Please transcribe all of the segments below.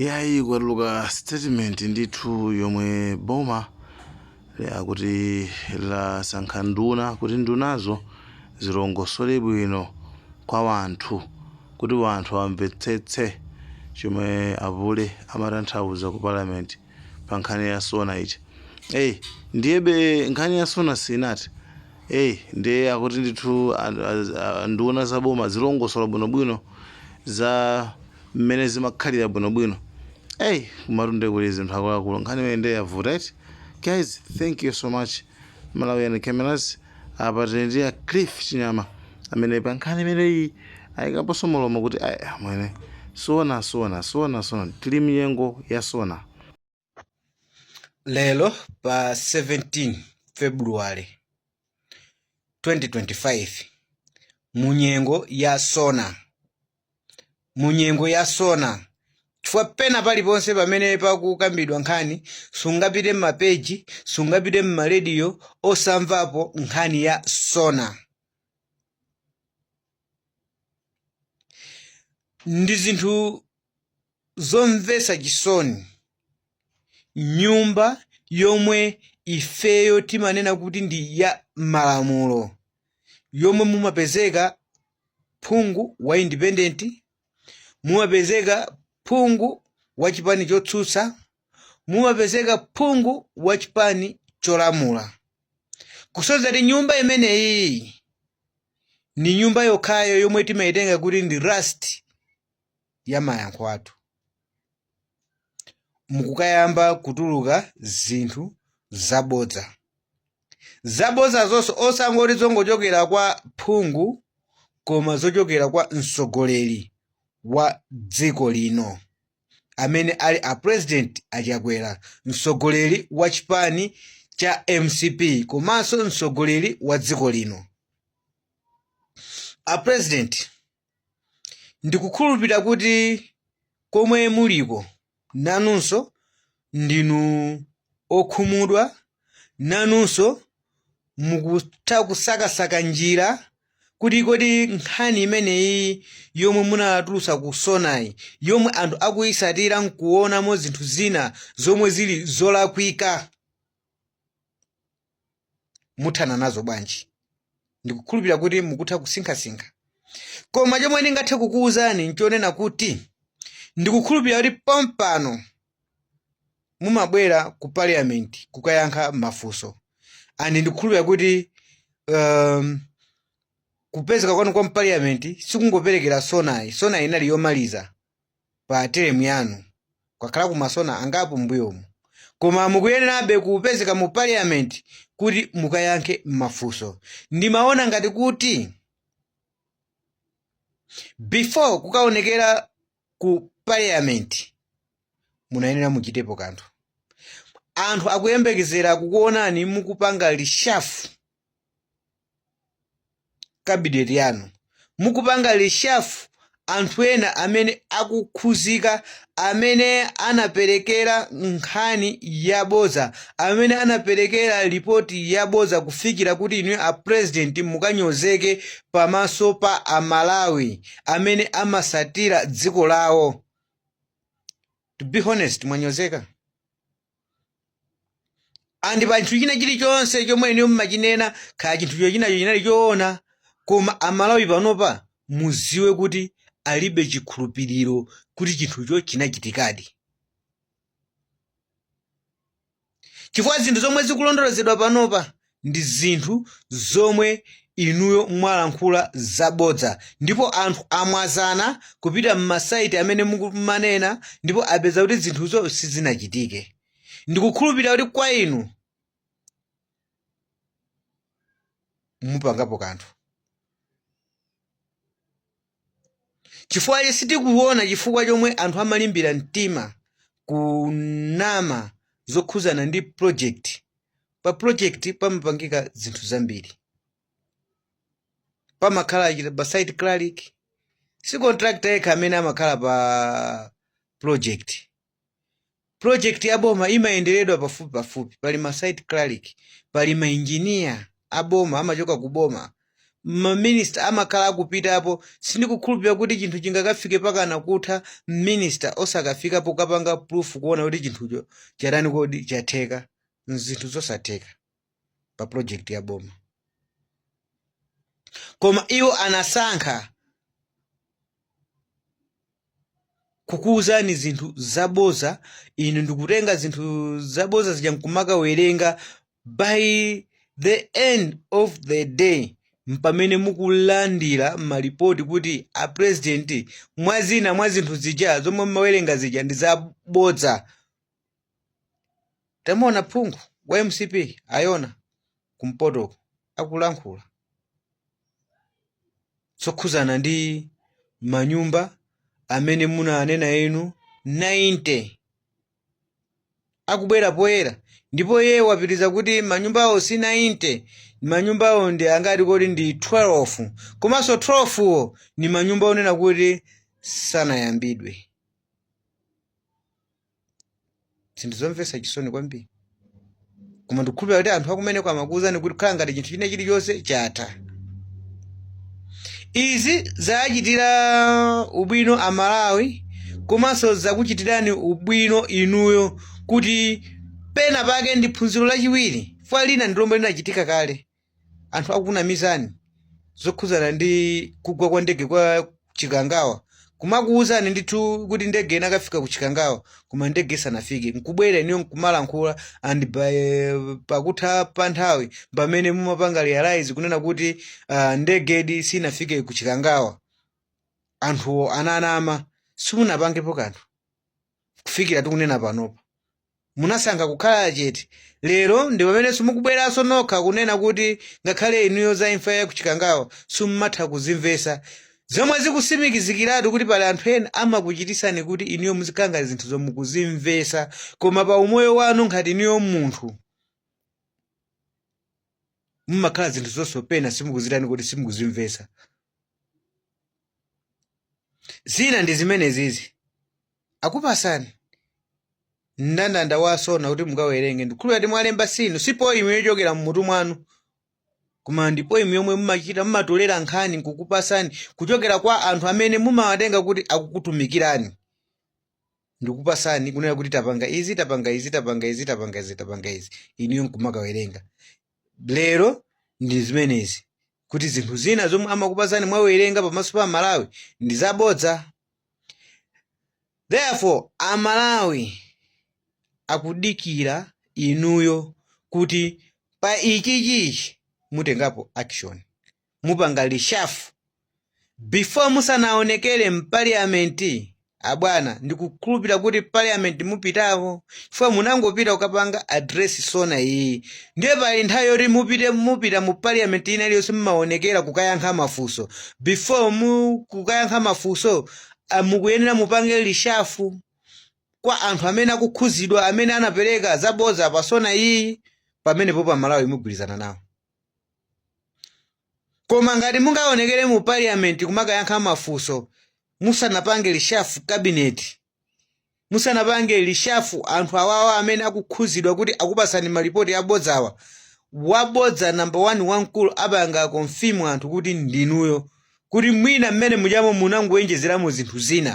Iyayi kwatuluka statement ndithu yomwe boma akuti lasankha nduna kuti ndunazo zilongosole bwino kwa wanthu kuti wanthu amvetsetse chomwe apule amatanthauza ku parliament. pa nkhani ya sona ija eyi ndiyebe nkhani ya sona sinati eyi ndiye akuti ndithu a- a- a- nduna za boma zilongosola bwinobwino za mmene zimakhalira bwinobwino eyi kumatunde kuli zinthu akuluakulu nkhani imene ndiye yavuta eti guys thank you so much malawian cameras Apa tili ndi a Cliff Chinyama amene pa nkhani imeneyi ayikaponso mlomo kuti ayi amwene sona sona sona sona tili mnyengo ya sona. Lero pa 17 February 2025 munyengo ya sona. mu nyengo ya sona chifukwa pena paliponse pamene pakukambidwa nkhani sungapite m'mapeji sungapite m'marediyo osamvapo nkhani ya sona ndi zinthu Zomvetsa chisoni, nyumba yomwe ifeyo timanena kuti ndi ya malamulo, yomwe mumapezeka phungu wa independent, mumapezeka phungu wa chipani chotsutsa, mumapezeka phungu wa chipani cholamula, kusonyeza kuti nyumba imeneyiyi ndi nyumba yokhayo yomwe timaitenga kuti ndi last ya mayankho athu mukukayamba kutuluka zinthu zabodza zabodza zonse osangoti zongochokera kwa phungu koma zochokera kwa mtsogoleri wa dziko lino amene ali a president a Chakwera mtsogoleri wa chipani cha mcp komanso mtsogoleri wa dziko lino a president ndikukhulupirira kuti komwe muliko nanunso ndinu okhumudwa nanunso mukutha kusakasaka njira kuti kodi nkhani imeneyi yomwe munatulutsa ku sonayi yomwe anthu akuyisatira nkuonamo zinthu zina zomwe zili zolakwika muthana nazo bwanji ndikukhulupirira kuti mukutha kusinkhasinkha koma chomwe ndingathe kukuwuzani nchonena kuti ndikukhulupirira kuti pompano mumabwera ku parliament kukayankha mafunso and ndikukhulupirira kuti um, kupezeka kwanu kwa mpaliyamenti sikungoperekera sonayi sonayi inali yomaliza pa teremu yanu kwakhala ku ma SONA angapo mbuyomu koma mukuyenerabe kupezeka mu parliament kuti mukayankhe mafunso ndimaona ngati kuti before kukaonekera ku parliament munayenera muchitepo kanthu anthu akuyembekezera kukuonani mukupanga reshuffle cabinet yanu mukupanga reshuffle anthu ena amene akukhuzika amene anaperekera nkhani yabodza amene anaperekera report yabodza kufikira kuti inuyo a president mukanyozeke pamaso pa amalawi amene amasatira dziko lawo to be honest mwanyozeka and pa chinthu china chilichonse chomwe inu mmachinena kaya chinthucho chinacho chinali choona koma amalawi panopa muziwe kuti alibe chikhulupiriro kuti chinthucho chinachitikadi chifukwa zinthu zomwe zikulondolozedwa panopa ndi zinthu zomwe inuyo mwalankhula zabodza ndipo anthu amwazana kupita m'masaiti amene mukumanena ndipo apeza kuti zinthuzo sizinachitike ndikukhulupirira kuti kwa inu mupangapo kanthu Chifukwa sitikuwona chifukwa chomwe anthu amalimbira mtima kunama zokhuzana ndi project. Pa project pamapangika zinthu zambiri. Pamakhala pa site clerk, si contractor yekha amene amakhala pa project. Project ya boma imayenderedwa pafupi pafupi, pali ma site clerk, pali ma engineer a boma amachoka ku boma, ma minister amakhala akupitapo, sindikukhulupirira kuti chinthu chingakafike pakana kutha minister osakafikapo kapanga proof kuona kuti chinthucho chatani kodi, chatheka, nzinthu zosatheka. pa project ya boma koma iwo anasankha kukuwuzani zinthu zaboza inu ndikutenga zinthu zaboza zija nkumakawerenga by the end of the day mpamene mukulandira malipoti kuti a president mwa zina mwa zinthu zija zomwe mmawerenga zija ndi zabodza tamuona phungu wa mcp ayona kumpotoko akulankhula zokhuzana ndi manyumba amene munanena inu 90 akubwera poyera ndipo iye wapitiriza kuti manyumbawo si 90 manyumbawo ndi angati kodi ndi 12 komanso 12 wo ni manyumba onena kuti sanayambidwe zinthu zomvetsa chisoni kwambiri koma ndikukhulupira kuti anthu akumeneko amakuwuzani kuti khala ngati chinthu chine chilichonse chatha izi zachitira ubwino amalawi komanso zakuchitirani ubwino inuyo kuti pena pake ndi phunziro lachiwiri fwa lina ndi lomwe linachitika kale anthu akunamizani zokhudzana ndi kugwa kwa ndege kwa chikangawa kumakuwuzani ndithu kuti ndege inakafika ku chikangawa koma ndege isanafike nkubwera iniyo nkumalankhula and by, pakutha pa nthawi pamene mumapanga realize kunena kuti uh, ndegedi sinafike ku chikangawa anthuwo ananama simunapangepo kanthu kufikira tikunena panopa munasankha kukhala chete lero ndi pamenenso mukubweranso nokha kunena kuti ngakhale inuyo za imfa ya kuchikangawa simumatha kuzimvesa zomwe zikusimikizikiratu kuti pali anthu ena amakuchitisani kuti inuyo muzikhala ngati zinthuzo mukuzimvesa koma pa umoyo wanu ngati inuyo munthu mumakhala zinthu zonso pena simukuzitani kuti simukuzimvesa zina ndi zimenezizi akupasani mndandanda wa sona kuti mukawerenge ndikhulupira kuti mwalemba sinu si poimu yochokera mmutu mwanu koma ndi poimu yomwe mumachita mumatolera nkhani nkukupasani kuchokera kwa anthu amene mumawatenga kuti akukutumikirani ndikupasani kunena kuti tapanga izi tapanga izi tapanga izi tapanga izi tapanga izi inuyo nkumakawerenga lero ndi zimenezi kuti zinthu zina zomwe amakupasani mwawerenga pamaso pa amalawi ndi zabodza therefore amalawi akudikira inuyo kuti pa ichichichi mutengapo action mupanga reshuffle before musanaonekere mpaliyamenti Abwana ndikukhulupira kuti parliament mupitako chifukwa munangopita kukapanga address SONA iyi ndiye pali nthawi yoti mupite mupita mu parliament ina iliyonse mumawonekera kukayankha mafunso before musa kukayankha mafunso ah, mukuyenera mupange reshuffle kwa anthu amene akukhuzidwa amene anapereka zabodza pa SONA iyi pamenepo aMalawi mugwirizana nawo Koma ngati mungaonekere mu parliament kumakayankha mafunso musanapange reshuff cabinet, musanapange reshuffle anthu awawa amene akukhuzidwa kuti akupasani ma report abodzawa, wabodza number one wamkulu apanga confirm anthu kuti ndinuyo kuti mwina mmene mujamo munangoenjezeramo zinthu zina.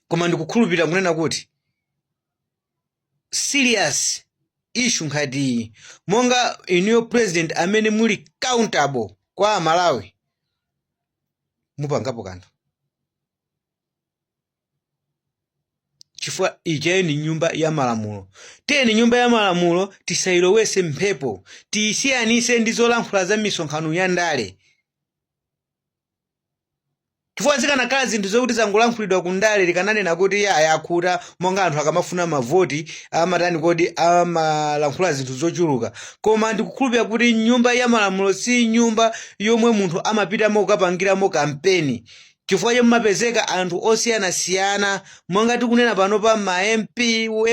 koma ndikukhulupirira kunena kuti serious issue ngati monga inuyo president amene muli accountable kwa amalawi mupangapo kanthu chifukwa ijayo ndi nyumba ya malamulo tiyeni nyumba ya malamulo tisayilowetse mphepo tiyisiyanise ndi zolankhula za misonkhano ya ndale chifukwa zikanakhala zinthu zokuti zangolankhulidwa ku ndale likananena kuti iye ayakhuta monga anthu akamafuna mavoti amatani kodi amalankhula zinthu zochuluka koma ndikukhulupirira kuti nyumba ya malamulo si nyumba yomwe munthu amapitamo kukapangiramo kampeni chifukwa choti mumapezeka anthu osiyanasiyana monga tikunena pano pa ma mp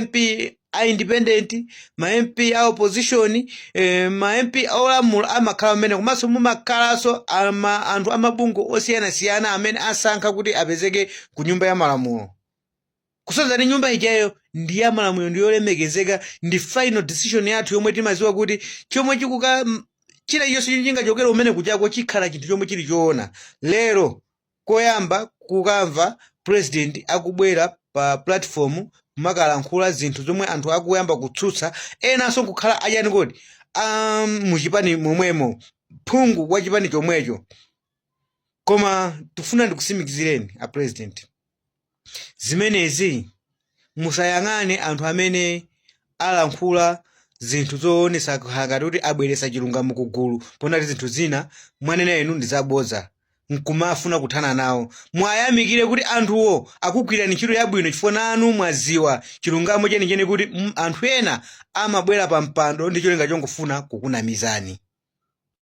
mp a independent ma mp a opposition eh, ma mp olamula amakhala mmene komanso mumakhalanso ama- anthu amabungwe osiyanasiyana amene asankha kuti apezeke ku nyumba ya malamulo kusonyeza kuti nyumba ijayo ndi ya malamulo ndi yolemekezeka ndi final decision yathu yomwe timaziwa kuti chomwe chikhala chilichonse chomwe chingachokere mmene kuchako chikhala chinthu chomwe chili choona lero Koyamba kukamva president akubwera pa platform kumakalankhula zinthu zomwe anthu akuyamba kutsutsa enanso nkukhala achani kodi a muchipani momwemo phungu wa chipani chomwecho koma ndikufuna ndikusimikizireni a president zimenezi, musayang'ane anthu amene alankhula zinthu zoonetsa ngati kuti abweretsa chilungamo ku gulu poona kuti zinthu zina mwanena inu ndi zabodza nkumafuna kuthana nawo muwayamikire kuti anthuwo akugwirirani ntchito yabwino chifukwa nanu mwaziwa chilungamo chenicheni kuti mm, anthu ena amabwera pa mpando ndi cholinga chongofuna kukunamizani